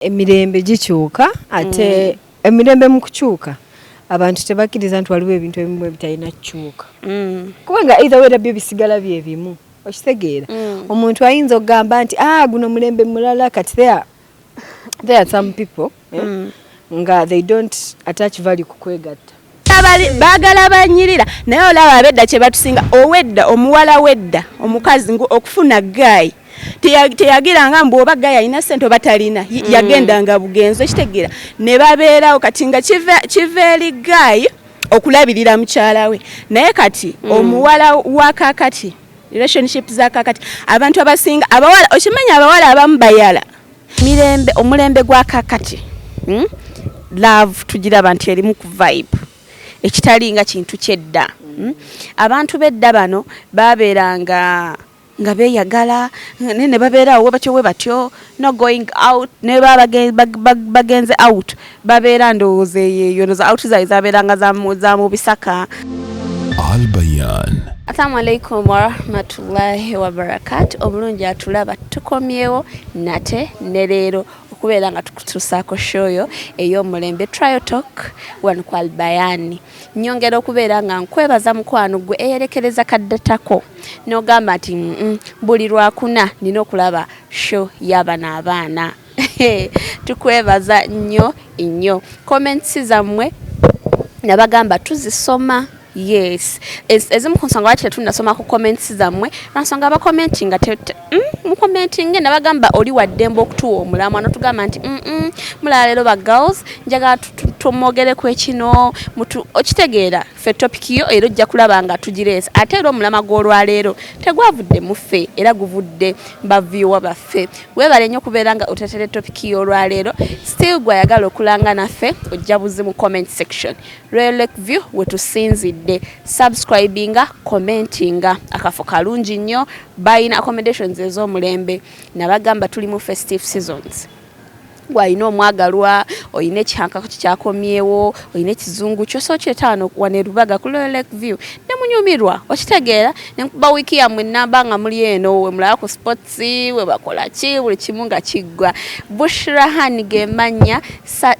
Emirembe gikyuka ate mm. emirembe mu kukyuka abantu tebakkiriza nti waliwo ebintu ebimu ebitalina kukyuka mm. kubanga either wera byo bisigala bye bimu okitegeera mm. omuntu ayinza okugamba nti ah guno mulembe mulala kati there, there are some people eh, mm. nga they don't attach value ku kwegatta bagala banyirira naye olaba abedda kyebatusinga owedda omuwala wedda omukazi ngu okufuna gaayi teyagiranga mbu oba gaya alina sente oba talina mm. yagendanga bugenzi okitegera ne babeerawo kati nga kiva eri gayi okulabirira mukyala we naye kati mm. omuwala wa kakati relationship za kakati abantu abasinga abawala okimanyi abawala abamu bayala mirembe omulembe gwa kakati hmm? love tugiraba nti erimu ku vibe ekitali nga kintu kyedda hmm? abantu bedda bano babeeranga nga beyagala naye ne babeera awo batyo we batyo no going out ne bagenze out Babeera ndowooza eyo eyo noza out zaali zabeeranga za mu bisaka. Albayan. Assalamu alaikum warahmatullahi wabarakatu. Omulungi atulaba tukomyewo nate ne leero okubeera nga tukutuusaako shoyo ey'omulembe trial talk wano ku albayani nyongera okubeera nga nkwebaza mukwano gwe eyerekereza kaddatako n'ogamba nti buli lwakuna nina okulaba show y'abana abaana tukwebaza nnyo nnyo comments zammwe nabagamba tuzisoma yes ezimu ku nsonga lwaki tetunasoma ku comments zammwe lwansonga abakomenti nga mm, mukomenti nge nabagamba oli waddembe okutuwa omulamwa notugamba nti mm, mm, mulala leero ba girls njagala tumwogereku ekino okitegeera ffe topic yo era ojja kulaba nga tugireesa ate era omulama gw'olwaleero tegwavudde mu ffe era guvudde baviewa baffe weebale nnyo kubeera nga otetere topic y'olwaleero still gwayagala okulanga naffe ojja buzi mu comment section royal lake view wetusinzidde subscribinga commentinga akafo kalungi nnyo bayina accommodations ez'omulembe nabagamba tuli mu festive seasons gwalina omwagalwa olina ekihankako kikyakomyewo olina ekizungu kyosa okyetaano wano erubaga ku loyal lake view ne munyumirwa okitegeera ne nkuba wiiki yammwe nnamba nga muli eno we mulaba ku sports we bakola ki buli kimu nga kiggwa bushra han ge mannya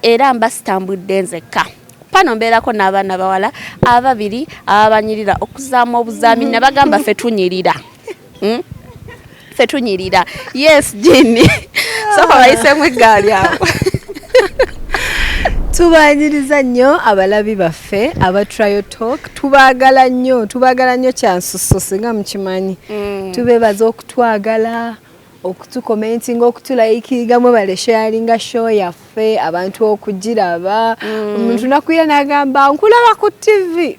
era mba sitambudde nzekka pano mbeerako n'abaana bawala ababiri ababanyirira okuzaamu obuzaami nabagamba fe tunyirira hmm? ffe tunyirira yes jini soka bayisemu eggaali awo tubaanyiriza nnyo abalabi baffe aba trial talk tubaagala nnyo tubaagala nnyo kyansuso singa mukimanyi mm. tubeebaza okutwagala okutukomentinga okutulayikiiga mwebale sharinga show yaffe abantu okugiraba mm. omuntu mm. nakuyena agamba nkulaba ku tivi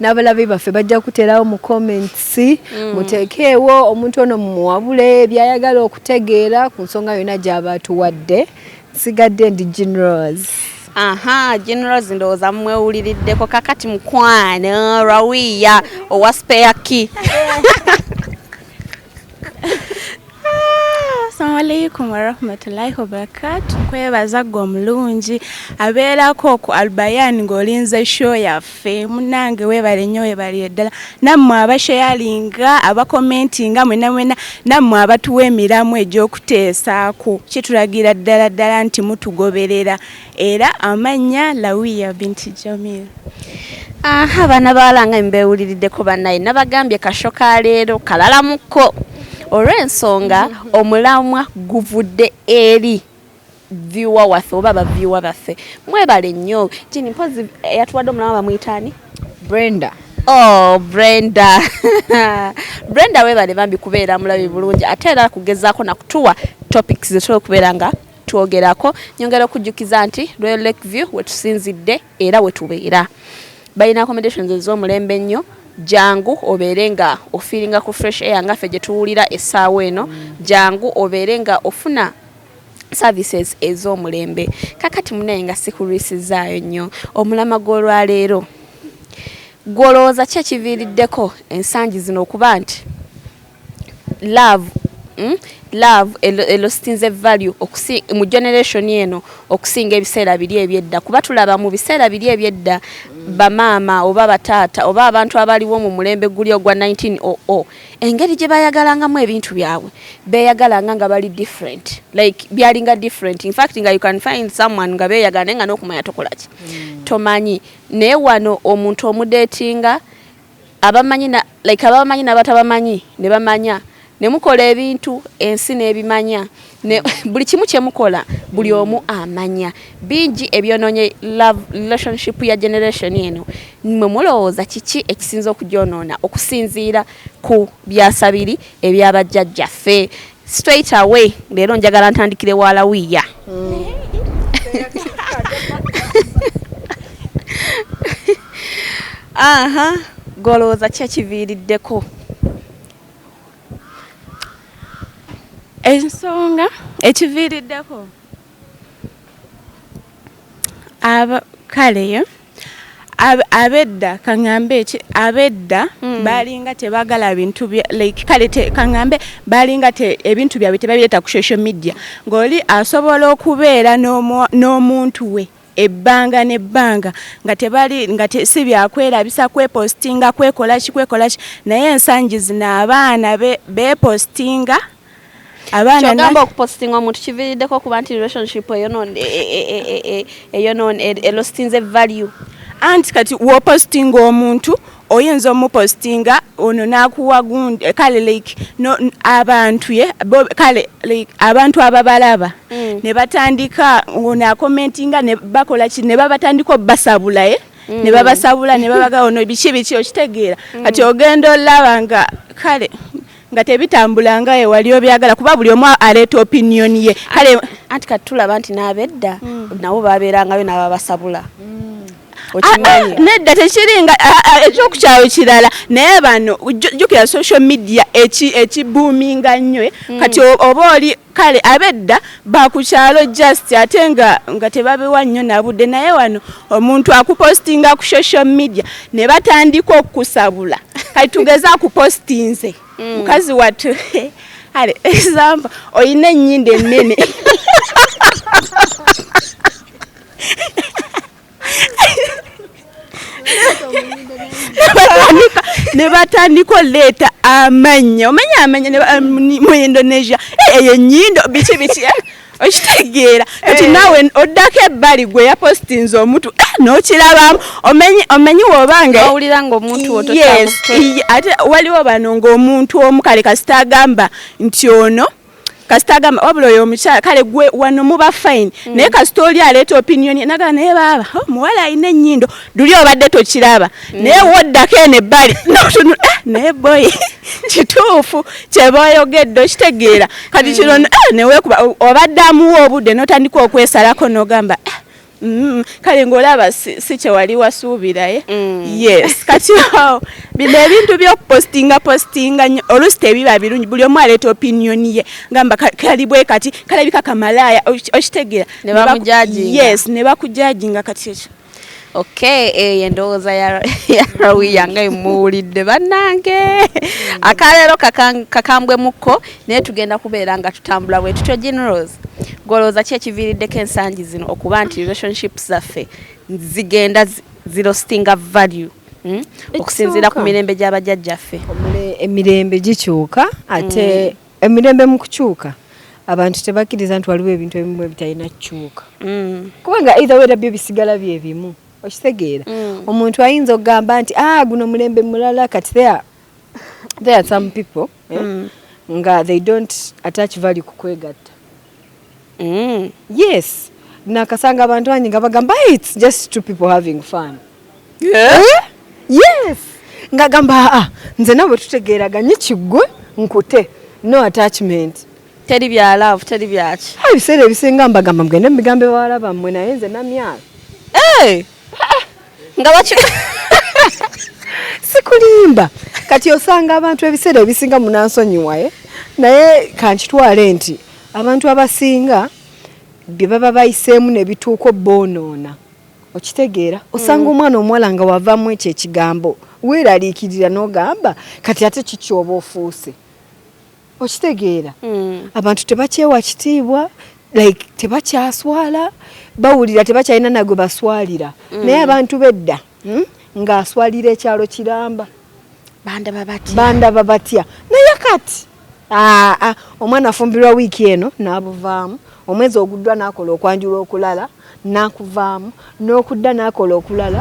n'abalabi baffe bajja kuterawo mu comments mm. muteekeewo omuntu ono mumuwabule byayagala okutegeera ku nsonga yonna gyaba atuwadde sigadde ndi generals aha generals ndowooza mumwewuliriddeko kakati mukwano rawiya owa spare key Assalamu alaikum warahmatullahi wabarakatu kwebaza gwe omulungi abeerako ku albayan ng'olinze show yaffe munange weebale nnyo weebalire ddala nammwe abasheyalinga abakomentinga mwena mwena nammwe abatuwa emiramu egy'okuteesaako kitulagira ddala ddala nti mutugoberera Era amannya Lawiya binti Jamil. Aha bana bawala nga mbewuliriddeko banaye nabagambye kasho ka leero kalalamukko olw'ensonga omulamwa guvudde eri viwa waffe oba baviwa baffe mwebale nnyo kini mpozi eyatuwadde omulamwa bamuyitaani Brenda oh Brenda Brenda webale bambi kubeera mulabi bulungi ate era kugezaako nakutuwa topics zetula okubeera nga twogerako. Nyongera okujjukiza nti Royal Lake View wetusinzidde era wetubeera. Balina accommodations ez'omulembe ennyo, jangu obeere nga ofiiringa ku fresh air nga ffe gyetuwulira essaawa eno, jangu obeere nga ofuna services ez'omulembe. Kakati munaye nga sikulwisizaayo nnyo, omulama gw'olwaleero gwe olowooza ki ekiviiriddeko ensangi zino okuba nti. love mm love elositinze value okusi mu generation eno okusinga ebiseera biri ebyedda kuba tulaba mu biseera biri ebyedda bamaama oba bataata oba abantu abaliwo mu mulembe guli ogwa 1900 engeri gye bayagalangamu ebintu byabwe beyagalanga nga bali different like byalinga different in fact nga you can find someone nga beyagala naye nga n'okumanya tokolaki mm. tomanyi naye wano omuntu omudetinga abamanyi na like ababamanyi nabatabamanyi nebamanya nemukola ebintu ensi nebimanya ne buli kimu kyemukola buli omu amanya bingi ebyononye love relationship ya generation eno mwe mulowooza kiki ekisinza okujonona okusinziira ku byasabiri ebyabajjajjaffe Straight away leero njagala ntandikire wa lawiya aha gwe olowooza ki ekiviiriddeko ensonga ekiviiriddeko kaleyo abedda kaŋambe eki abedda hmm. balinga tebagala bintu like kale kaŋambe balinga ebintu byabwe tebabireeta ku social media ng'oli asobola okubeera n'omuntu we ebbanga n'ebbanga nga tebali nga si byakwerabisa kwepostinga kwekolaki kwekolaki naye ensangi zino abaana bepostinga be abaana kyogamba okupostinga omuntu kivirideko kuba nti relationship eyonone eyonone elostinze value anti kati wopostinga omuntu oyinza omupostinga ono nakuwa gundi eh, kale like no, abantu ye bo, kale like abantu ababalaba mm. ne batandika ono akomentinga ne bakola ki ne babatandika obasabula ye eh? mm. ne babasabula ne babaga ono biki biki okitegeera mm. kati ogenda olaba nga kale nga tebitambula nga ewali obyagala kuba buli omu aleeta opinion ye kale anti kati tulaba nti n'abedda mm. nabo babeerangayo n'ababasabula mm. ah, ah, nedda tekiringa ah, ekyokukyawo kirala naye bano jukira social media ekibuuminga nnyo eh? mm. kati oba oli Kale abedda bakukyalo just ate nga nga tebabewa nnyo nabude naye wano omuntu akupostinga ku social media ne batandika okukusabula kati tugeze akupostinze mm. mukazi watu ale example oyina ennyinda ennene ne batandika oleeta amanya omanya amanya mu indonesia eh, eyo enyindo biki biki eh? okitegeera kati eh. naawe oddako ebbali gwe yapositinze omutu eh, nokirabamu omenyi wobangaowulira nga omuntu ate waliwo bano ngaomuntu omu kale kasita agamba nti ono kasita agamba wabula oyo omukyala kale gwe wano muba fine mm. naye kasita oli aleeta opinion nagamba naye baaba oh, muwala alina ennyindo duli obadde tokiraba mm. naye woddako eno ebbali notunu eh, naye boyi kituufu kyeboyogedde okitegeera kati kino mm. eh, newekuba obadde amuwa obudde notandika okwesalako nogamba eh, Mm-hmm. kale ng'olaba si kyewali wasuubiraye eh? mm. yes kati awo bino ebintu byokupostinga postinga nyo oluusi tebiba birungi buli omu aleeta opiniyoni ye ngamba kali bwe kati kalabika kamalaaya okitegeera yes ne bakujajinga kati ekyo okay eyo eh, endowooza ya rawiya nga emuwulidde bannange mm. akaleero kakambwemukko naye tugenda kubeera nga tutambula bwe tutyo generals golowooza ki ekiviiriddeko ensangi zino okuba nti relationships zaffe zigenda zirostinga value hmm? okusinziira ku mirembe gy'abajajjaffe emirembe gikyuka ate hmm. emirembe mu kukyuka abantu tebakkiriza nti waliwo ebintu ebimu ebitalina kukyuka hmm. kubanga either wera byo bisigala bye bimu okitegeera omuntu ayinza okugamba nti a ah, guno mulembe mulala kati thea there are some people eh, mm. nga they don't attach value ku kwegatta mm. yes nakasanga abantu bangi nga bagamba it's just two people having fun yeah. Eh? yes nga gamba aa ah, ah, nze nawe tutegeeraganye kiggwe nkute no attachment teri bya love teri byaki ebiseera ebisinga mbagamba mugende mubigambo ewala bammwe naye nze namyala hey! Eh! nga baki sikulimba kati osanga abantu ebiseera ebisinga munansonyiwaye eh? naye kankitwale nti abantu abasinga bye baba bayiseemu ne bituuko boonoona okitegeera osanga mm. omwana omuwala nga wavamu ekyo ekigambo weeraliikirira n'ogamba kati ate kikyoba ofuuse okitegeera mm. abantu tebakyewa kitiibwa like tebakyaswala bawulira tebakyalina nagwe baswalira mm. naye abantu bedda hmm? ng'aswalira ekyalo kiramba bandaba batya naye kati ah, ah, omwana afumbirwa wiiki eno n'abuvaamu omwezi oguddwa n'akola okwanjula okulala n'akuvaamu n'okudda n'akola okulala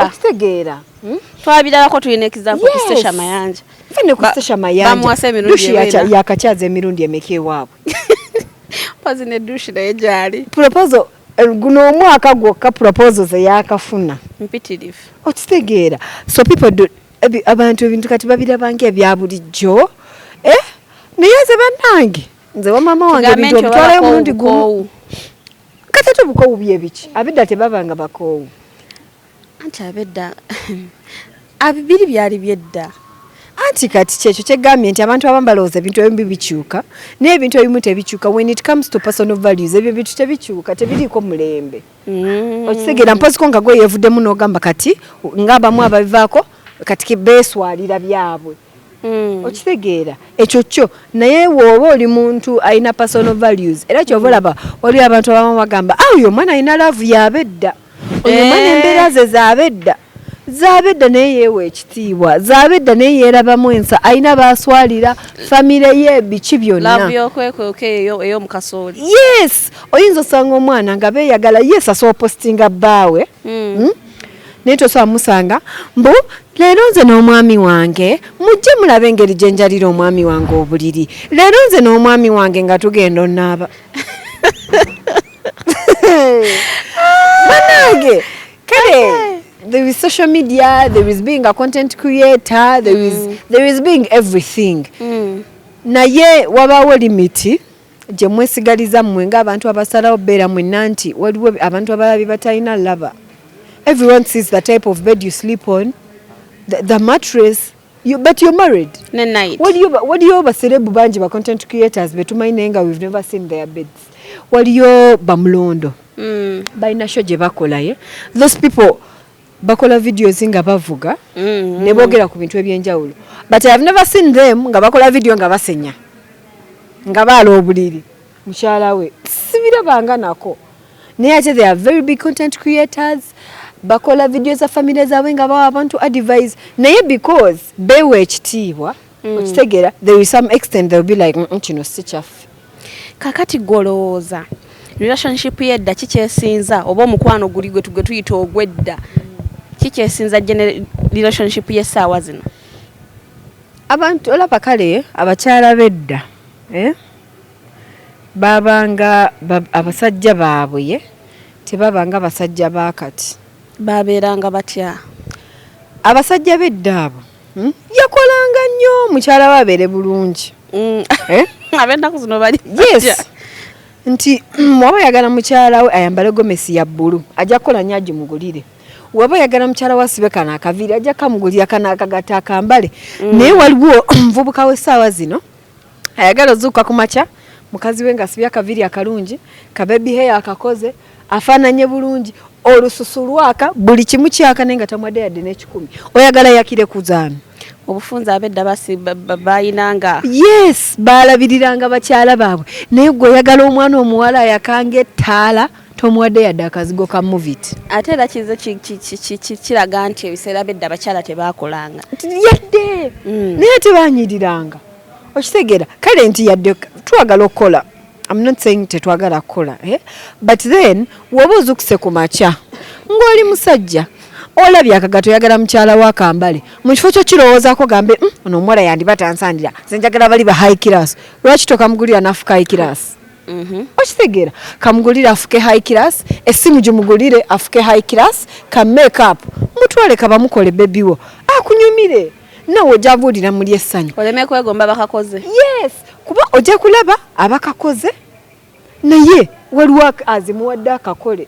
okitegeera hmm? twabirabako tulina ekizaamu kusesha mayanja fane kusesha mayanja yakakyaza emirundi emeka ewaabwe pazi ne dushi naye gyali proposal eh, guno omwaka gwokka proposal zeyakafuna mpitirivu okitegeera so people do abantu ebintu kati babirabanga ebya bulijjo eh? naye nze bannange nze wamama wange ebintu obitwalayo omulundi gumu kati ate obukoowu byebiki abedda tebabanga bakoowu anti abedda biri byali byedda anti kati kyekyo kyegambye nti abantu abamu balowooza ebintu ebimu bibikyuka naye ebintu ebimu tebikyuka when it comes to personal values ebyo bintu tebikyuka tebiriiko mulembe mm. okitegeera mpoziko nga gweyevuddemu n'ogamba kati ngaabamu ababivaako kati beswalira byabwe Mm. okitegeera ekyo kyo naye wooba oli muntu alina personal values era kyova mm. olaba waliwo abantu abamu bagamba a ah, oyo omwana alina laavu yabedda oyo omwana eh. embeera ze zabedda zabedda naye yeewa ekitiibwa zabedda naye yeerabamu ensa alina baaswalira famire ye biki byonna yes oyinza osanga omwana nga beeyagala yes asobola positinga bbaawe mm. hmm? naye tosobola musanga mbu leero nze n'omwami wange mujje mulabe engeri gye njalira omwami wange obuliri leero nze n'omwami wange nga tugenda onaaba banange kale there is social media there is being a content creator there is, mm. there is being everything mm. naye wabaawo limiti gye mwesigaliza mmwe ng'abantu abasalawo beera mwenna nti waliwo abantu abalala bye batalina laba everyone sees the type of bed you sleep on the, the mattress you, but you're married ne night waliyo waliyo baserebu bangi ba content creators betumanyi naye nga we've never seen their beds waliyo bamulondo mm. balina sho gye bakola ye those people bakola videos nga bavuga mm -hmm. ne bogera ku bintu ebyenjawulo but i have never seen them nga bakola video nga basenya nga baala obuliri mukyala we sibirabanga nako naye ate they are very big content creators bakola video za famile zaabwe nga bawa abantu advise naye because bewa ekitiibwa mm. okitegera there is some extent they'll be like mm, mm, kino si kyaffe kakati gwolowooza relationship yedda kikyesinza oba omukwano guli gwe tuyita ogwedda kikyesinza relationship yesaawa zino abantu olaba kale abakyala bedda eh? babanga abasajja baabwe tebabanga basajja bakati babeeranga batya abasajja bedda abo Hmm? yakolanga nnyo mukyala we abeere bulungi hmm. eh? abennaku zino bali yes nti hmm, waba yagala mukyala we ayambale gomesi ya bbulu ajja kukola nnyo agimugulire waba yagala mukyala we asibe kano akaviiri ajja kamugulira kano akagata akambale naye waliwo omuvubuka w'essaawa zino ayagala ozuukuka ku makya mukazi we ng'asibye akaviiri akalungi kabebi heya akakoze afaananye bulungi olususu lwaka buli kimu kyaka naye nga tamwadde yadde n'ekikumi oyagala yakire kuzaano obufunza abedda bayinanga yes baalabiriranga bakyala baabwe naye gwe oyagala omwana omuwala ayakanga ettaala tomuwadde yadde akazigo ka movit ate era kize kiraga nti ebiseera byedda abakyala tebaakolanga yadde mm. naye tebanyiriranga okitegera kale nti yadde twagala okukola am not saying tetwagala kukola eh? but then woba ozukuse ku makya ng'oli musajja olabye akagato oyagala mukyala wa kambale mu kifo kyo kirowoozako gambe mm, ono omuwala yandiba tansandira nze njagala bali ba high class lwaki tokamugulira nafuka high class Mhm. okitegera kamugulire afuke high class esimu gimugulire afuke high class ka make up mutwale kabamukole bebi wo akunyumire nawe ojja buulira muli essanyu oleme kwegomba bakakoze yes kuba ojja kulaba abakakoze naye waliwo azimuwadde akakole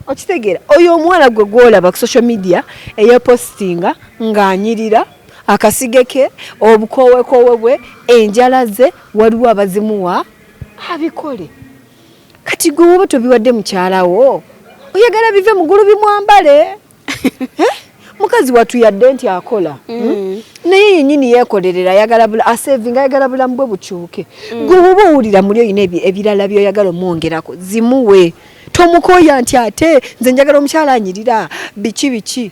okitegeera oyo omuwala gwe gwolaba ku social media eyepostinga ng'anyirira akasige ke obukowekoowe bwe enjala ze waliwo abazimuwa abikole kati gwe woba tobiwadde mukyalawo oyagala bive mugulu bimwambale eh? mukazi watu yadde nti akola hmm? mm. naye yenyini yekolerera ayagala bula asevinga ayagala bulamu bwe bukyuke mm. gwe woba owulira muli oyina ebirala byoyagala omwongerako zimuwe tomukoya nti ate nze njagala omukyala anyirira biki biki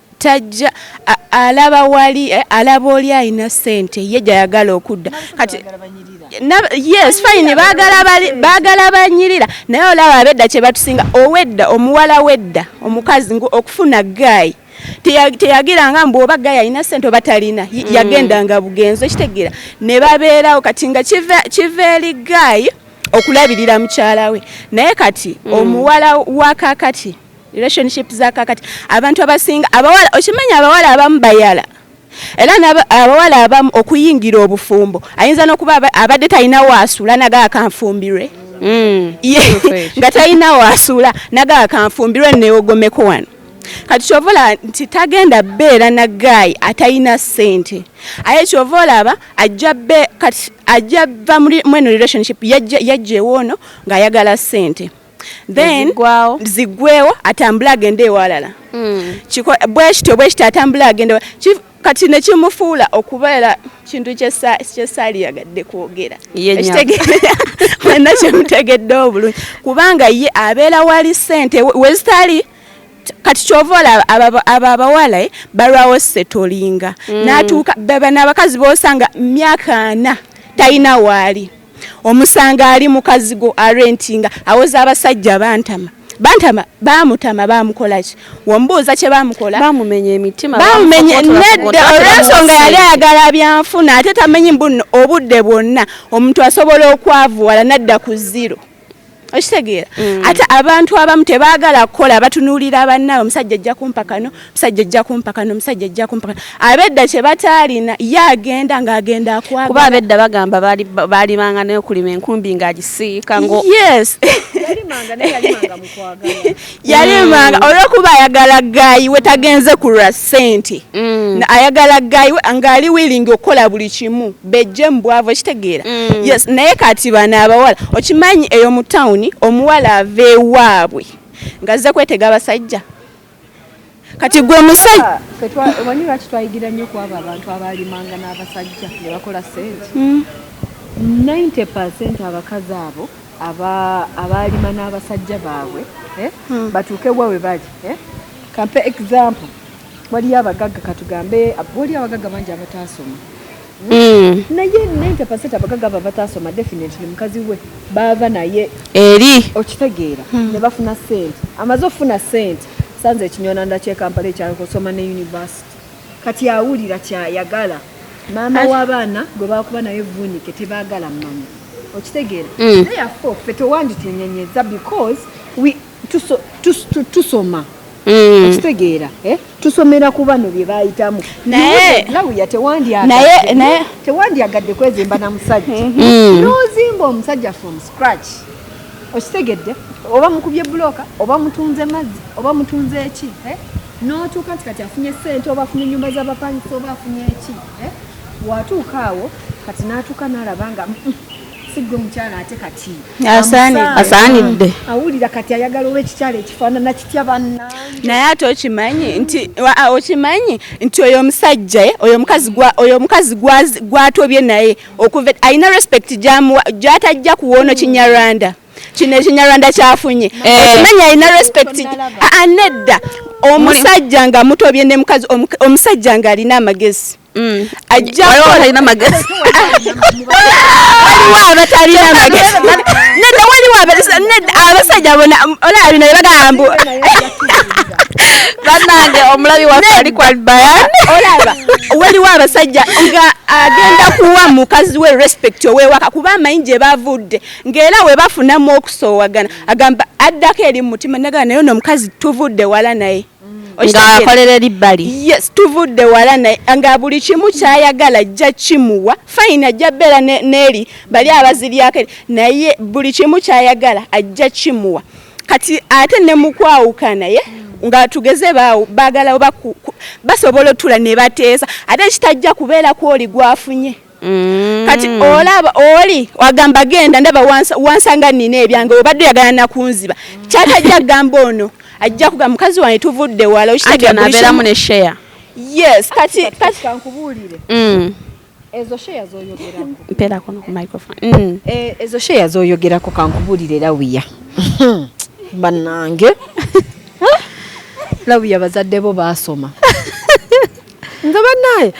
tajja alaba wali eh, alaba oli alina sente ye gyayagala okudda kati yes fine bagala banyirira naye olaba abedda kyebatusinga owedda omuwala wedda omukazi okufuna gayi teyagiranga mbu oba gayi alina sente oba talina mm. yagendanga bugenzi okitegeera ne babeerawo kati nga kiva eri gayi okulabirira mukyala we naye kati mm. omuwala wakakati relationship za kakati abantu abasinga abawala okimanyi abawala abamu bayala era abawala abamu okuyingira obufumbo ayinza n'okuba abadde talina waasula naga akanfumbirwe mm. nga talina waasula naga akanfumbirwe neogomeko wano kati kyova olaba nti tagenda beera na gaayi atalina ssente aye kyova olaba ajja kati ajja va mweno relationship yajja ewoono ng'ayagala ssente then zigwewo atambule agende ewalala hmm. bwekityo bwekityo atambule agende kati nekimufuula okubeera kintu kyesaali yagadde kwogera wena kyemutegedde obulungi kubanga ye abeera wali sente wezitali kati kyova olaba abo abawala eh, balwawo setolinga hmm. natuuka baba n'abakazi bosanga myaka ana talina waali omusanga ali mukazigo arentinga awoza abasajja bantama bantama bamutama bamukolaki wombuuza kye bamukola bamumenya emitima bamumenya nedda olwensonga yali ayagala byanfuna ate tamenyi mbuno obudde bwonna omuntu asobola okwavuwala nadda ku ziro okitegeera mm. ate abantu abamu tebaagala kukola batunuulira bannaabwe omusajja ajja kumpa kano omusajja ajja kumpa kano omusajja ajja kumpa kano abedda kye bataalina ye agenda ng'agenda akwagala kuba abedda bagamba baalimanga naye okulima enkumbi ng'agisiika ngo yes yalimanga mm. olwokuba ayagala gayi we tagenze ku lwa sente mm. ayagala gayi we ngaali wilingi okukola buli kimu bejje mu bwavu ekitegeera mm. yes naye kati bana abawala okimanyi eyo mu tawuni omuwala ava ewaabwe ngazze kwetega abasajja kati gwe musajja ah, omanyi lwaki twayigira nnyo ku abo abantu abaalimanga n'abasajja ne bakola sente 90 hmm. abakazi abo abaalima n'abasajja baabwe eh, hmm. batuuke wa we bali eh? kampe example waliyo abagagga katugambe waliyo abagagga bangi abataasoma Mm. naye 90 abagaga abo abatasoma definitely mukazi we baava naye eri okitegeera mm. ne bafuna sente amaze okufuna sente Sanze ekinywananda ky'e Kampala ekyalo kusoma ne yunivasiti kati awulira kyayagala maama w'abaana gwe baakuba naye vvuunike tebaagala mmanya okitegeera mm. naye afe offe tewanditunyenyeza because tusoma mm. okitegeera eh? tusomera ku bano bye bayitamu lawuya tewandyagadde kwezimba na musajja mm-hmm. n'ozimba omusajja from scratch okitegedde oba mukubye buloka oba mutunze mazzi oba mutunze eki eh? notuuka nti kati afunye sente oba afunye enyumba zabapangisa oba afunye eki eh? watuuka awo kati natuuka nalaba nga mm, mm, sigwe mukyala ate kati asaanidde awulira kati ayagala oba ekikyala ekifaanana kitya banna naye ate okimanyi nti okimanyi nti oyo omusajja eh, oyo omukazi gwatobye naye okuva alina respect gyatajja kuwoono kinyarwanda kino ekinyarwanda kyafunye eh. okimenya alina respect nedda omusajja nga mutobye ne mukazi omusajja nga alina amagezi mm. ajjatalina magezi abasajja bona olabina bagamba banange omulabi waffe ali kwa bayan olaba waliwo abasajja nga agenda kuwa mukazi we respect owewaka kuba amanyi gye bavudde ng'era we bafunamu okusoowagana agamba addako eri mu mutima nagaa naye ono omukazi tuvudde wala naye ngaakolera eri bbali yes tuvudde wala naye nga buli kimu kyayagala ajja kimuwa fayini ajja beera n'eri bali abaziryako naye buli kimu kyayagala ajja kimuwa kati ate ne mu kwawukana ye nga tugeze baawo baagala oba basobola otula ne bateesa ate kitajja kubeera ku oli gwafunye mm. kati olaba oli wagamba genda ndaba wansanga nina ebyange obadde oyagala nakunziba kyatajja kugamba ono ajja kuga mukazi wange tuvudde wala okitegeera yes kati kati kankubuulire mm. ezo sheya zoyogerako mpera kono ku microphone mm. e, ezo sheya zoyogerako kankubulire lawiya banange lawiya bazadde bo basoma nze banaye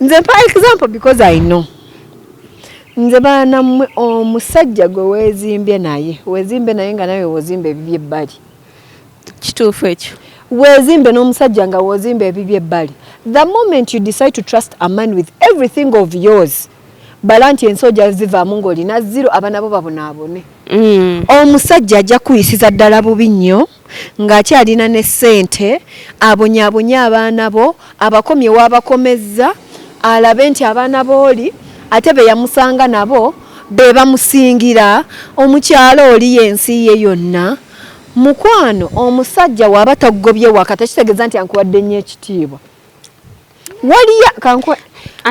nze mpa example because i know nze baana mmwe omusajja gwe weezimbye naye weezimbye naye nga nawe wozimba ebibye ebbali kituufu ekyo wezimbe n'omusajja nga wozimba ebibi ebbali the moment you decide to trust a man with everything of yours bala nti ensi oja zivaamu ng'olina ziro abana bo babonaabone mm. omusajja ajja kuyisiza ddala bubi nnyo ng'akyalina ne ssente abonyaabonye abaana bo abakomye waabakomezza alabe nti abaana booli ate be yamusanga nabo be bamusingira omukyalo oli y'ensi ye yonna Mukwano omusajja waba tagobye waka tekitegeza nti ankuwadde nnyo ekitiibwa waliya kankuwa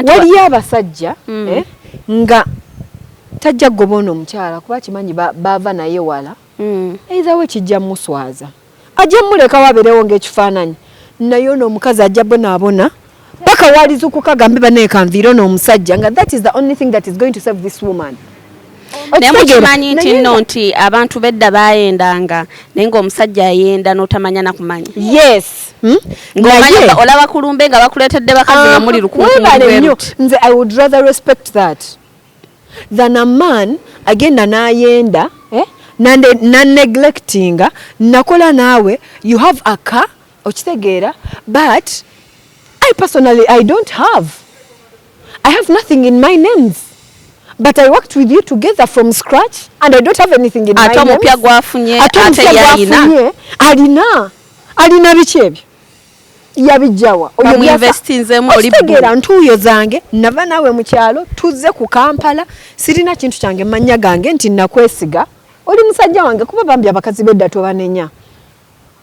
waliyo abasajja mm. eh, nga tajja kugoba ono omukyala kuba kimanyi baava naye wala mm. either we kijja muswaza ajja mulekawo abeerewo ngaekifaananyi naye ono omukazi ajja bonaabona paka walizukuka gambe banaye kanviiro n'omusajja nga that is the only thing that is going to save this woman naye mukimanyi nti nno nti abantu bedda bayendanga naye ngaomusajja ayenda notamanya nakumanya yes hmm? olaba kulumbe nga bakuletedde bakazi nga ah, muli lukunkuwebale nze i would rather respect that than a man agenda nayenda eh? naneglectinga nakola naawe you have a car okitegeera but i personally i don't have i have nothing in my names but i worked with you together from scratch and i don't have anything in ate omupya gwafunye ate omupya gwafunye alina alina biki ebyo yabijjawa oyobyategeera ntuuyo zange nava naawe mu kyalo tuzze ku kampala sirina kintu kyange mannya gange nti nakwesiga oli musajja wange kuba bambi abakazi bedda tobanenya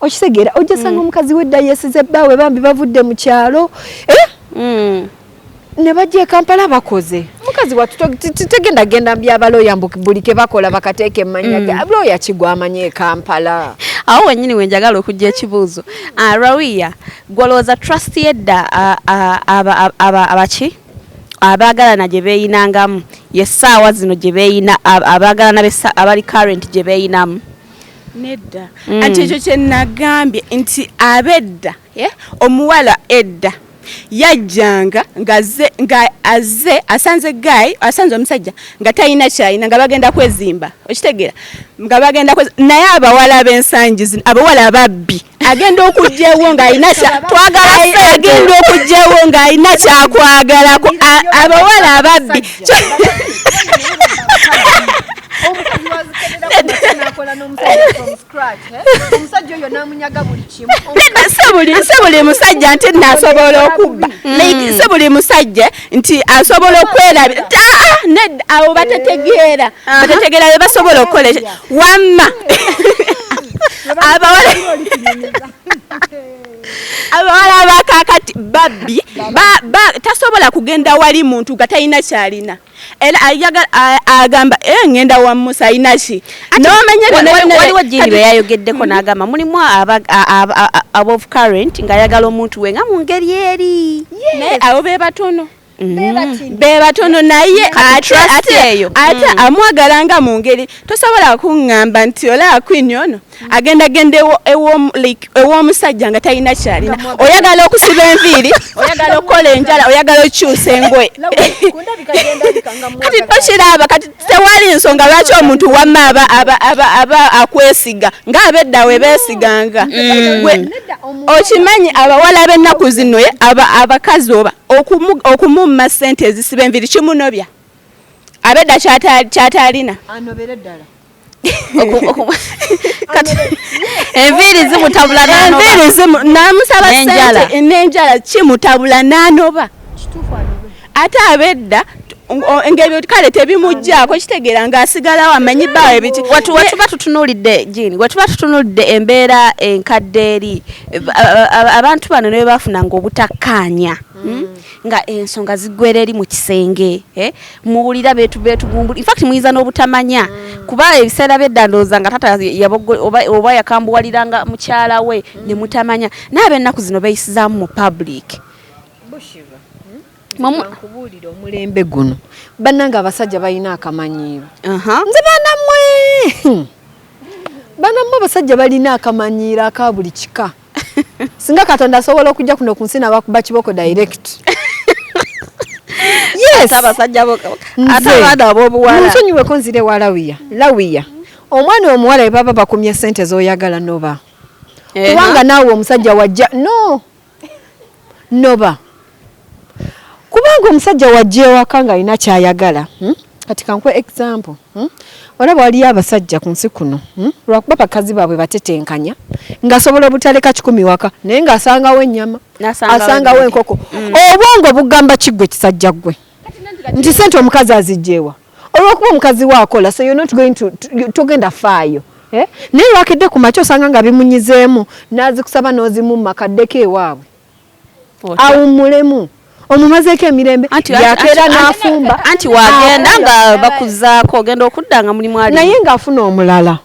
okitegeera ojja mm. sanga omukazi we dda yesize bbaawe bambi bavudde mu kyalo eh? mm. ne bajja ekampala bakoze mukazi watutegenda genda mbyabaloya mbu buli kebakola bakateeka emmanya mm. loya kigwa amanya ekampala awo wenyini wenjagala okujja ekibuuzo ah, rawiya gwolowooza trust yedda abaki abaagalana gye beeyinangamu yessaawa zino gye beeyina abaagalana abali current gye beeyinamu nedda mm. anti ekyo kyenagambye nti abedda eh, omuwala edda yajjanga ngaze nga aze asanze guy asanze omusajja nga talina kyalina nga bagenda kwezimba okitegera nga bagenda naye abawala b'ensangi zino abawala ababbi agenda okugyewo ng'alina agenda okugyewo ng'alina kyakwagala abawala ababbi si buli musajja nti nasobola okubba mm. si buli musajja nti asobola okwerabira ah, awo batetegeera batetegeera bebasobola okukola wamma abawala abawala abakakati babbi tasobola kugenda wali muntu nga talina kyalina era agamba eh, ngenda wa musa ayinaki nomanyawaliwo jini bwe yayogeddeko n'agamba mulimu above current ng'ayagala omuntu we nga mu ngeri eri naye abo be batono Mm-hmm. bebatono naye ate mm. amwagala nga mu ngeri tosobola kuŋŋamba nti olaba kwini ono mm. agenda genda ew'omusajja nga talina kyalina oyagala okusiba enviiri oyagala okukola enjala oyagala okukyusa engoye kati tokiraba kati tewali nsonga lwaki omuntu wamma aba akwesiga nga abedda we beesiganga mm. okimanyi abawala b'ennaku zino abakazi oba okumumma ssente ezisiba enviri kimunobya abedda kyataalina anobere ddala enviiri zimutabula namusaba sente n'enjala kimutabula n'anoba ate abedda ngebyo kale tebimujjaako kitegeera ng'asigalawo amanyi baawe biki wetuba tutunulidde jini wetuba tutunulidde embeera enkadde eri abantu bano ne bebafunanga obutakkaanya hmm? nga ensonga ziggwera eri mu kisenge eh? muwulira betugumbula infact muyinza n'obutamanya hmm. kuba ebiseera byeddandooza nga tata oba yakambuwaliranga mukyala we ne mutamanya naye ab'ennaku zino beyisizaamu mu public nkubuulire omulembe guno bannange abasajja balina akamanyiiro nze banamwe banamwe abasajja balina akamanyiiro aka buli kika singa katonda asobola okujja kuno ku nsi nabakuba kiboko direct nsonyiweko nzira ewa lawiya lawiya omwana omuwala ebaba bakumye sente zoyagala noba eh, kubanga naawe omusajja wajja no noba kubanga omusajja wajja ewaka ng'alina kyayagala hmm? kati kankuwa example hmm? olaba waliyo abasajja ku nsi kuno hmm? lwakuba bakazi baabwe batetenkanya ng'asobola obutaleka kikumi waka naye ng'asangawo ennyama asangawo enkoko obwongo bugamba kiggwe kisajja ggwe nti sente omukazi azijjeewa olwokuba omukazi we akola so you're not going to togenda faayo eh? naye lwakedde ku makya osanga nga bimunyizeemu n'azikusaba n'ozimumma kaddeko ewaabwe awummulemu omumazeeko emirembe yakeera n'afumba anti wagenda nga bakuzaako ogenda okudda nga mulimu ali naye ng'afuna omulala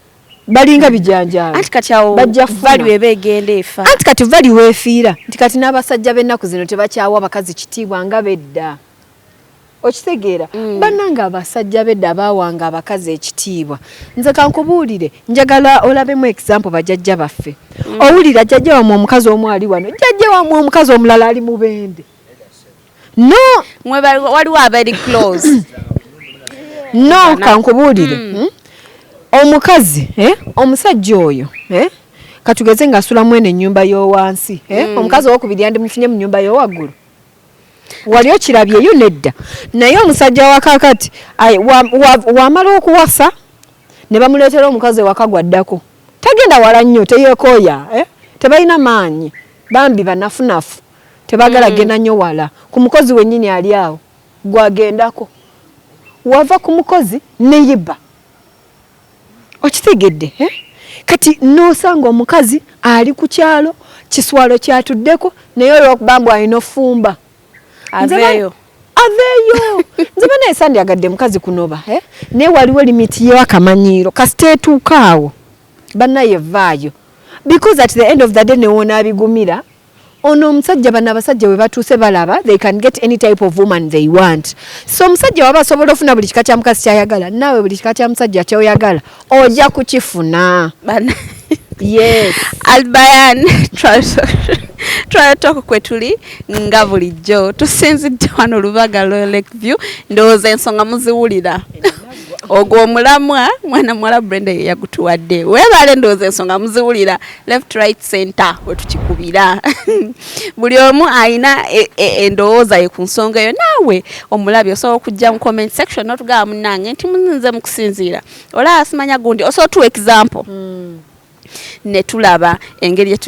balinga bijanjaalo anti kati awo value eba egenda efa anti kati value weefiira nti kati n'abasajja b'ennaku zino tebakyawa bakazi kitiibwa nga bedda okitegeera mm. bannange abasajja bedda abaawanga abakazi ekitiibwa nze kankubuulire njagala olabemu example bajajja baffe mm. owulira jajja wamwe omukazi omu ali wano jajja wamwe omukazi omulala ali mu bende no waliwo abali close no kankubuulire mm. hmm? omukazi eh? omusajja oyo eh? katugeze ngaasula mwene ennyumba y'owansi eh? mm. omukazi owokubiri yandimufunye mu nyumba y'owaggulu wali okirabyeyo nedda naye omusajja wakakati wamala okuwasa ne bamuleetera omukazi ewaka gwaddako tagenda wala nnyo teyekooya eh? tebalina maanyi bambi banafunafu tebagala mm. genda nnyo wala ku mukozi wennyini ali awo gwagendako wava ku mukozi neyiba okitegedde eh? kati nosanga omukazi ali ku kyalo kiswalo kyatuddeko naye olwokuba mbu alina ofumba aveeyo aveeyo nze banaye sandyagadde mukazi kunoba eh? naye waliwo limiti yewakamanyiiro kasita etuukaawo banaye vaayo because at the end of the day newonaabigumira Ono omusajja bano abasajja webatuuse balaba they can get any type of woman they want so omusajja waba asobola ofuna buli kika kya mukazi kyayagala naawe buli kika kya musajja kyoyagala oja kukifuna yes albayan twalatooko kwetuli nga bulijjo tusinzidde wano olubaga lwe lake view ndowooza ensonga muziwulira ogwo omulamwa mwana muwala brenda yeyagutuwadde webaale ndowooza ensonga muziwulira left right center wetukikubira buli omu alina e, e, endowooza ye ku nsonga eyo naawe omulabi osobola okujja mu comment section notugaba munange nti muzinze mukusinziira olaba simanya gundi osobola tuwa example mm. netulaba engeri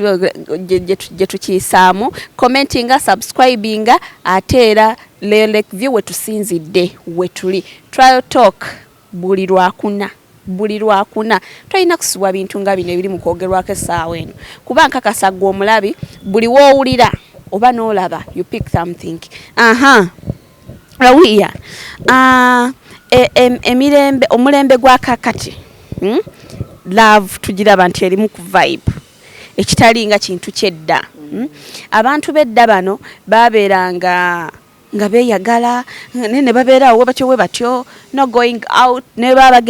gyetukiyisaamu commentinga subscribinga ate era lelek view wetusinzidde wetuli trial talk Buli Lwakuna, buli Lwakuna. Tolina kusubwa bintu nga bino ebiri mu kwogerwako essaawa eno kuba nkakasa ggwe omulabi buli w'owulira oba n'olaba you pick something. Ahaa, are we here? Aah, e, e, emirembe, omulembe gwa kakati, hmm? love tugiraba nti erimu ku vibe ekitali nga kintu ky'edda. Hmm? Abantu b'edda bano baabeeranga nga beyagala naye ne babeera awo webatyo webatyo no going out ne baba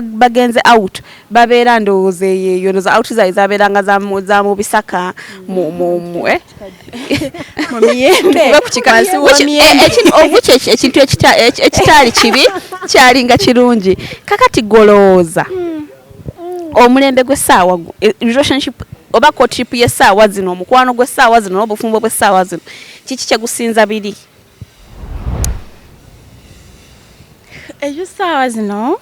bagenze out babeera ndowooza eyeyo noza out zaye zabeeranga za mu bisaka eh? ekintu ekitaali kibi kyalinga kirungi kakati golowooza hmm. omulembe gw'essaawa e, relationship oba courtship y'essaawa zino omukwano gw'essaawa zino n'obufumbo bw'essaawa zino kiki kyegusinza biri eyo ssaawa zino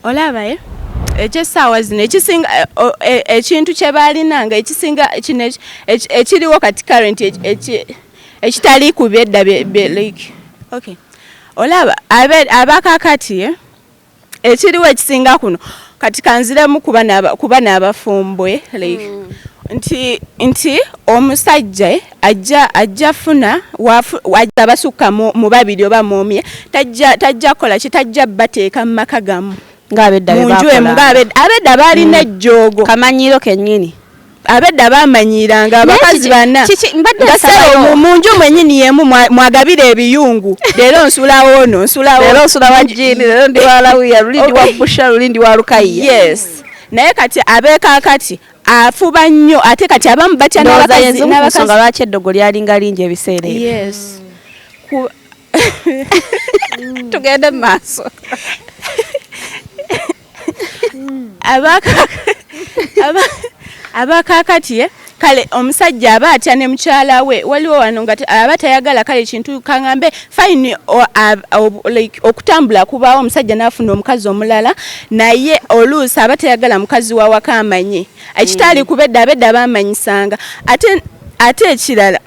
olaba eh? ekyesaawa zino ekisinga eh, eh, ekintu kyebalina nga ekisinga kino ekiriwo kati current ekitali ku byedda like okay olaba abakakati eh? ekiriwo ekisinga kuno kati kanziremu kuba n'abafumbwe like mm. nti nti omusajja ajja ajja funa wajja basukka mu babiri oba mu omye tajja tajja kola ki tajja bateeka mu maka gamu ng'abedda be bakola ng'abedda abedda baalina mm. ejjoogo kamanyiiro kennyini abedda bamanyiranga abakazi bana ngasero mu nju mwenyini yemu mwagabira ebiyungu leero nsulawo ono nsulawo leero nsula wa jini leero ndi wa lawiya luli ndi wa busha luli ndi wa lukayiya yes naye kati abeekakati afuba nnyo ate kati abamu batya n'abakazinsonga lwaki eddogo lyalinga lingi ebiseera ebyo mm. tugende mu maaso abakakati eh? kale omusajja aba atya ne mukyala we waliwo wano nga aba tayagala kale kintu kangambe fine like okutambula kubaawo omusajja n'afuna omukazi omulala naye oluusi aba teyagala mukazi wawaka amanyi ekitaali mm. kubedda abedda bamanyisanga ate ate ekirala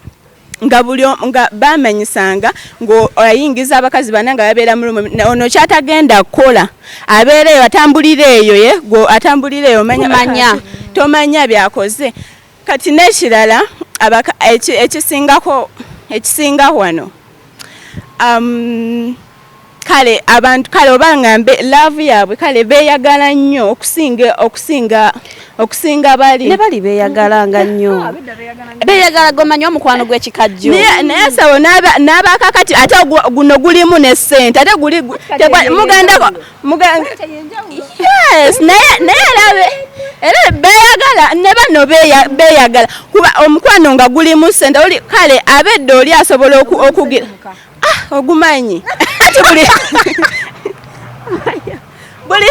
nga buli nga bamanyisanga ng'ayingiza abakazi bana nga babeera mu lumu ono kyatagenda kukola abeera eyo atambulira eyo ye atambulira eyo manya tomanya byakoze Kati n'ekirala ekisingako ekisinga wano um, kale abantu kale oba ngambe laavu yaabwe kale beeyagala nnyo okusinga okusinga okusinga bali ne bali beeyagala nga nnyo ah, beeyagala gomanya omukwano gw'ekikajjo naye sabo n'abakakati ate guno gulimu ne ssente ate guli mugandako muganga yes naye naye alabe era beyagala ne bano beyagala kuba omukwano nga gulimu sente oli kale abedde oli asobola okugira ah ogumanyi ati buli buli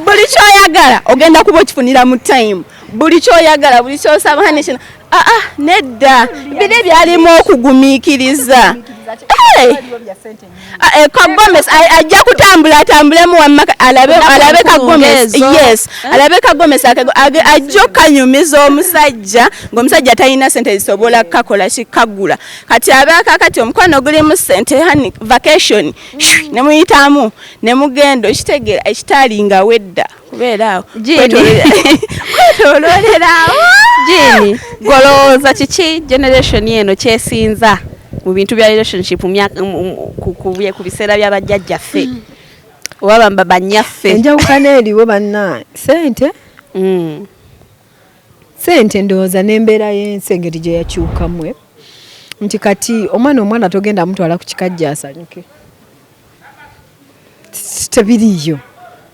buli kyoyagala ogenda kuba okifunira mu time buli kyoyagala buli kyosaba hani kino aa ah, ah, nedda biri byalimu okugumikiriza Eh, eh, kagomes ajja kutambula atambulemu wamaka alabe alabe kagomes yes eh? alabe kagomes ajja okanyumiza omusajja ng'omusajja talina sente zisobola kakola kikagula kati abeaka kati omukwano gulimu sente hani vacation mm. nemuyitamu nemugenda okitegeera ekitaali nga wedda kubeeraawo kwetoloolerawo jini golowooza kiki generation eno kyesinza mu bintu bya relationship ku biseera bya bajjajjaffe mm. oba bamba banyaffe enjawukana eriwo banna sente mm. sente ndowooza n'embeera y'ensi engeri gye yakyukamwe nti kati omwana omwana togenda mutwala ku kikajja asanyuke tebiriiyo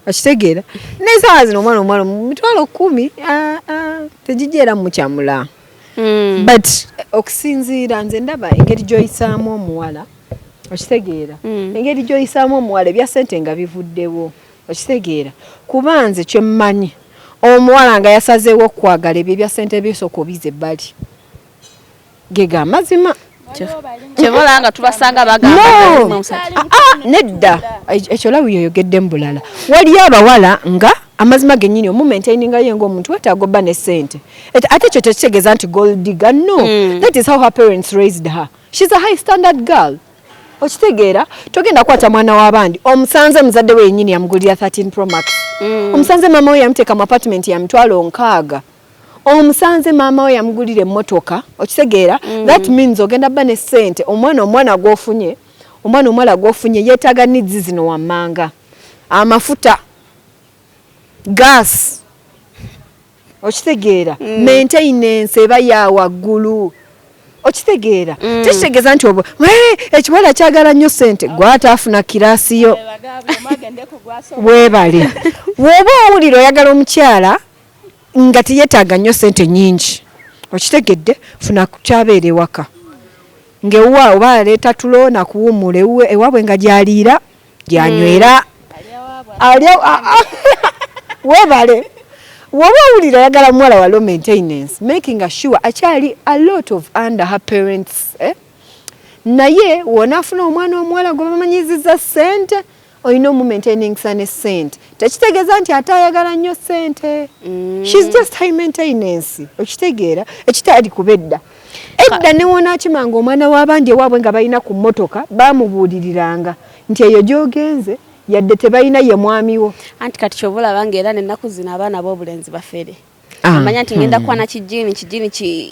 okitegeera naye saawa zino omwana omuwala mitwalo kumi ah, ah, tegijja era mukyamula hmm. but okusinziira nze ndaba engeri gyoyisaamu omuwala okitegeera hmm. engeri gyoyisaamu omuwala ebya sente nga bivuddewo okitegeera kuba nze kyemmanyi omuwala nga yasazeewo okukwagala ebyo ebya sente byosooka obize ebbali gega amazima kyevola nga tubasanga bagamba ah, ah, nedda ekyo lawi yoyogedde mu bulala waliyo abawala nga amazima genyini omumaintaininga ye ngaomuntu wetaaga obba ne sente ate ekyo tekitegeeza nti goldiga no mm. that is how her parents raised her shes a high standard girl okitegeera togenda kwata mwana w'abandi omusanze muzadde we yenyini yamugulira 13 promax mm. omusanze maama we yamuteeka mu apartment ya mitwalo nkaaga omusanze maama we yamugulira emmotoka okitegeera mm. that means ogenda ba ne ssente omwana omwana gwofunye omwana omwala gwofunye yeetaaga nidzi zino wammanga amafuta gaasi okitegeera mm. maintenance eba ya waggulu okitegeera mm. tekitegeeza nti obo ekiwala kyagala nnyo sente gwataafuna kiraasi yo webale woba owulira oyagala omukyala nga teyetaaga nnyo sente nyingi okitegedde funa kukyabeera ewaka ngewuwa oba aleeta tulo nakuwuumuula ewuwe ewaabwe nga gyaliira gyanywera hmm. alya webale woba owulira ayagala muwala wa low maintenance making assure akyali a lot of under her parents eh? naye wona afuna omwana omuwala gwe bamanyiziza sente olina omumaintainingsa ne sente tekitegeeza nti ate ayagala nnyo sente mm. shes just high maintenance okitegeera ekitaali kuba edda edda newonakimanga omwana w'abandi ewaabwe nga balina ku mmotoka baamubuuliriranga nti eyo gy'ogenze yadde tebalina ye mwamiwo anti kati kyoba olabanga era nenaku zino abaana b'obulenzi bafere Ah, amanya nti ngenda hmm. kwana kijini kijini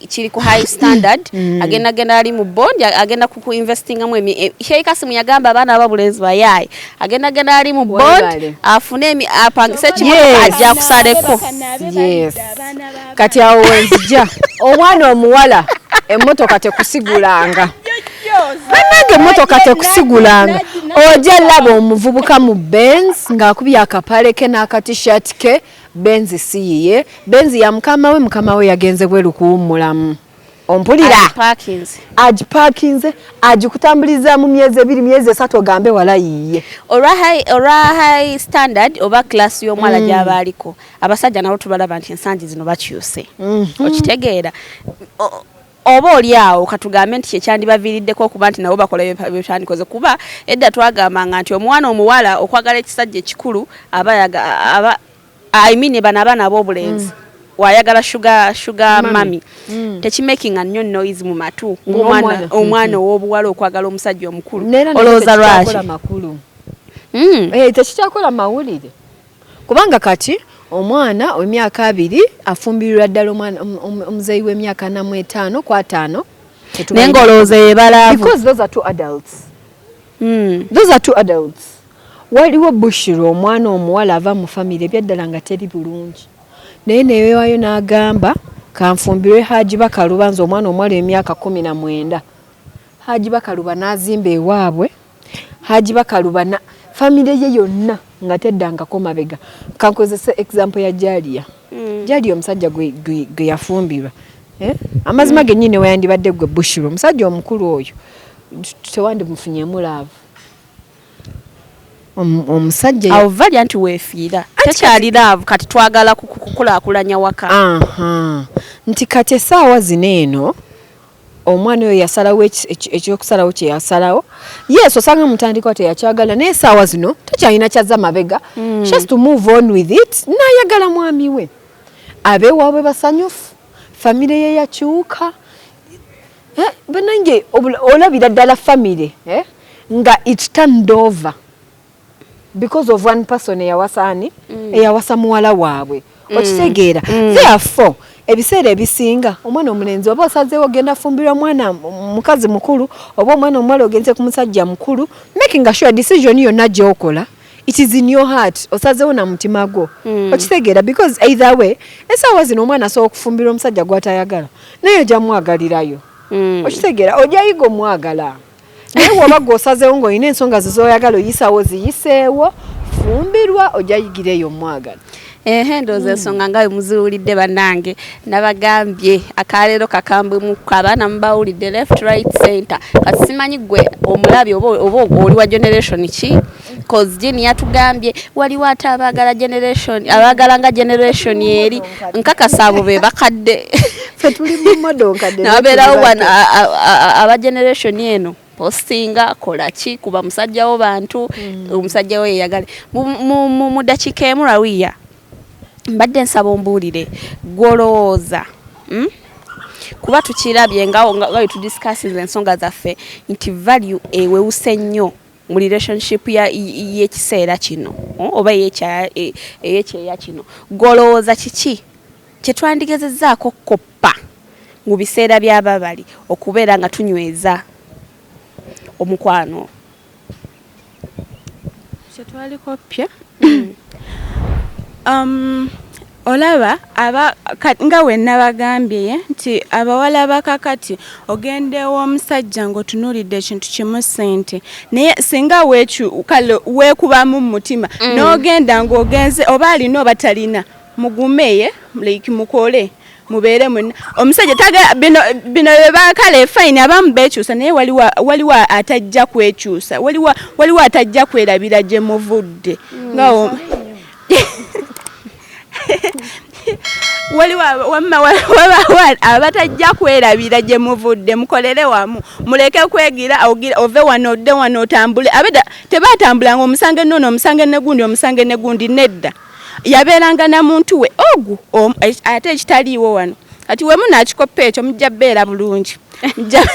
kiri ku high standard hmm. agenda genda ali mu bond agenda ku investinga mu e, Sheikh Kasim yagamba abana ababulenzi bayaye agenda genda ali mu bond afune emi apangise kimoto ajja kusaleko yes kati awo wenzija omwana omuwala emotoka tekusigulanga banange emotoka tekusigulanga ojja laba omuvubuka mu benz ng'akubye akapale ke n'akatishat ke Benzi si yiye benzi ya mukama we mukama we yagenze bweru kuwummulamu ompulira agipakinze agipakinze agikutambuliza mu myezi ebiri myezi esatu ogambe wala yiye olwa high olwa high standard oba class y'omwala mm. gyaba aliko abasajja nabo tubalaba nti ensangi zino bakyuse mm -hmm. okitegeera Oba oli awo ka tugambe nti kye kyandibaviiriddeko okuba nti nabo bakola ebyo bye twandikoze kuba edda twagambanga nti omwana omuwala okwagala ekisajja ekikulu aba yaga, aba, I mean bano abaana ab'obulenzi mm. wayagala sugar sugar mami mm. tekimakinga nnyo noise mu matu ng'omwana omwana ow'obuwala okwagala omusajja omukulu olowooza lwaki hmm. eh, tekikyakola mawulire kubanga kati omwana wemyaka abiri afumbirirwa ddala omwana omuzeyi wemyaka namu etaano ku ataano naye nga olowooza yebalaavuadults waliwo bushira omwana omuwala ava mu famiry ebyaddala nga teri bulungi naye neyewayo n'agamba kanfumbirwe haji bakaluba nze omwana omuwala emyaka kumi na mwenda haji bakaluba n'azimba ewaabwe Haji bakalubana family ye yonna nga teddangako mabega kankozese example ya Jalia mm. Jalia omusajja gwe, gwe, gwe yafumbirwa eh? amazima mm. genyini weyandibadde gwe Bushiro omusajja omukulu oyo tewandimufunyemu laavu omusajja avalya nti wefiira tekyali laavu kati twagala kukulakulanya waka nti kati esaawa zino eno omwana oyo yasalawo ekyokusalawo kyeyasalawo yes osanga mutandikwa teyakyagala naye esaawa zino takyalina kyazza mabega mm. she has to move on with it nayagala mwami we abewaabwe basanyufu famire ye yakyuka eh, banange olabira ddala famire eh, nga it turned over because of one person eyawasa ani mm. eyawasa muwala waabwe mm. okitegeera mm. therefore ebiseera ebisinga omwana omulenzi oba osazeewo ogenda fumbirwa mwana mukazi mukulu oba omwana omuwala ogenze ku musajja mukulu making a sure decision yonna gyokola it is in your heart osazeewo na mutima gwo mm. okitegeera because either way esaawa zino omwana asobola okufumbirwa omusajja gwatayagala naye ojamwagalirayo mm. okitegeera ojayiga omwagala naye woba gwe osazeewo ng'olina ensonga ze zoyagala oyisawo ziyiseewo fumbirwa ojja yigira eyo omwagala ehe ndowooza ensonga nga bwe muziwulidde bannange nabagambye akaleero kakambwemukko abaana mubawulidde left right center kati simanyi gwe omulabi oba oli wa generation ki cause Jane yatugambye waliwo ate abaagala generation abaagala nga generation eri nkakasa abo be bakadde nababeerawo wano aba generation eno postinga kolaki kuba musajja wo bantu mm. omusajja wo yeyagale mu dakiika emu rawiya mbadde nsaba ombuulire gwolowooza hmm? kuba tukirabye nga wetudiscassinze ensonga zaffe nti value ewewuse nnyo mu relationship y'ekiseera kino hmm, oba e, eyekyeya kino golowooza kiki kyetwandigezezaako okukoppa mu biseera byababali okubeera nga tunyweza omukwano kyetwalikoppya hmm. um, olaba aba nga wenabagambye nti abawala bakakati ogenda ew'omusajja ng'otunuulidde ekintu kimu ssente naye singa kale weekubamu mu mutima mm. n'ogenda ng'ogenze oba alina oba talina mugumeye like mukole mubeere mwenna omusajja tagala bino bino bebakale fine abamu bekyusa naye waliwo waliwo atajja kwekyusa waliwo waliwo atajja kwerabira gye muvudde mm, nga waliwo wamma wabawa abatajja kwerabira gye muvudde mukolere wamu muleke kwegira ove wano odde wano otambule abeda tebatambulanga omusange nono omusange negundi omusange negundi nedda yabeeranga na muntu we ogu ate ekitaliiwo wano kati wemu nakikoppa ekyo mujja beera bulungi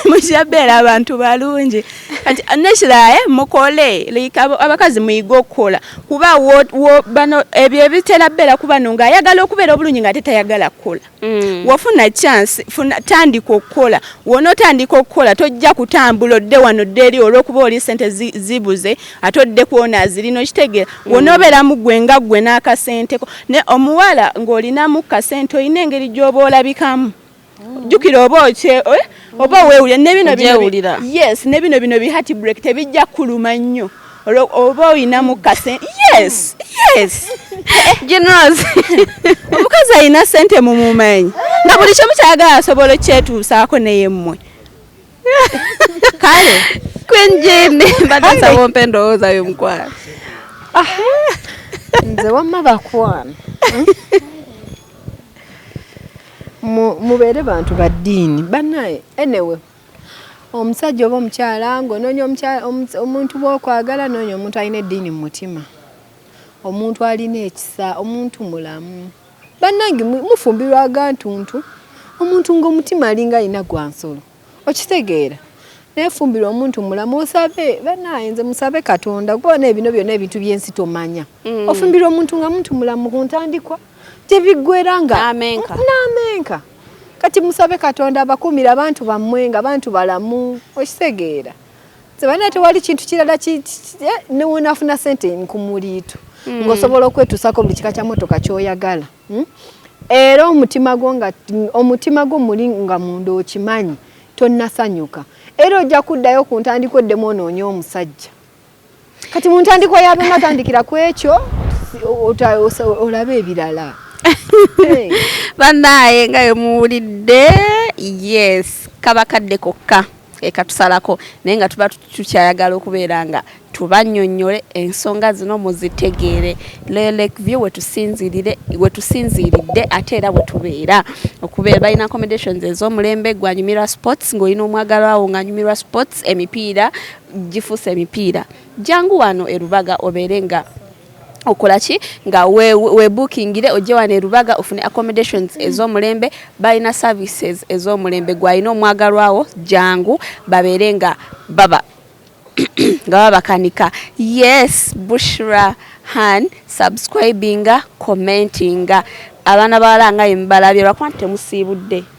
mujabera abantu balungi kati nekirae eh, mukole like abakazi muyige okukola kuba bano ebyo ebitera bera kubano nga ayagala okubeera obulungi nga tetayagala kukola mm. wafuna chance funa tandika okukola wona otandika okukola tojja kutambula odde wano dde eri olwokuba oli sente zibuze ate odde kwona azirina okitegeera mm. wona obeera mugwe nga gwe n'akasenteko ne omuwala ng'olinamu kasente olina engeri gy'oba olabikamu jukira oba okye eh? oba wewulira nebino yes nebino bino bi heart break tebijja kuluma nnyo oba olina mukase yes yes generals omukazi alina sente mumumanyi nga buli kimu kyagala asobola okukyetuusaako naye mmwe kale kwenjeni badasaba ompa endowooza yomukwano ah. nze wamma bakwana mubeere bantu ba ddiini banaye enewe omusajja oba omukyala ng'onoonya omuntu bwokwagala noonya omuntu alina eddiini mu mutima omuntu alina ekisa omuntu mulamu bannange mufumbirwa agantuntu omuntu ng'omutima alinga alina gwa nsolo okitegeera nefumbira omuntu mulamu osabe banaye nze musabe katonda kubona ebino byona ebintu byensi tomanya mm. ofumbira omuntu nga muntu mulamu kuntandikwa tebiggwera nga n'amenka kati musabe katonda abakuumira abantu bammwe nga bantu balamu okitegeera sebana tewali kintu kirala eh, newonaafuna sente ku muliito hmm. ng'osobola okwetuusako buli kika kya motoka kyoyagala hmm? era omutima gwo nga omutima gwo muli nga munda okimanyi tonnasanyuka era ojja kuddayo ku ntandikwa oddemu onoonye omusajja kati mu ntandikwa yabema tandikira ku ekyo olaba ebirala banaye nga emuwulidde yes kaba kadde kokka ekatusalako naye nga tuba tukyayagala okubeera nga tubanyonyole ensonga zino muzitegeere lelekview wetusinzirire wetusinziridde ate era wetubeera okubeera balina accommodations ez'omulembe gwanyumirwa sports ng'olina omwagalawo ng'anyumirwa sports emipiira gifuse emipiira jangu wano erubaga obeere nga okola ki nga webookingire we ojje wano erubaga ofune accommodations ez'omulembe balina services ez'omulembe gwalina omwagalwawo jangu babeere nga baba nga babakanika yes bushra han subscribinga commentinga abaana bawala nga yemubalabye lwakuba nti temusiibudde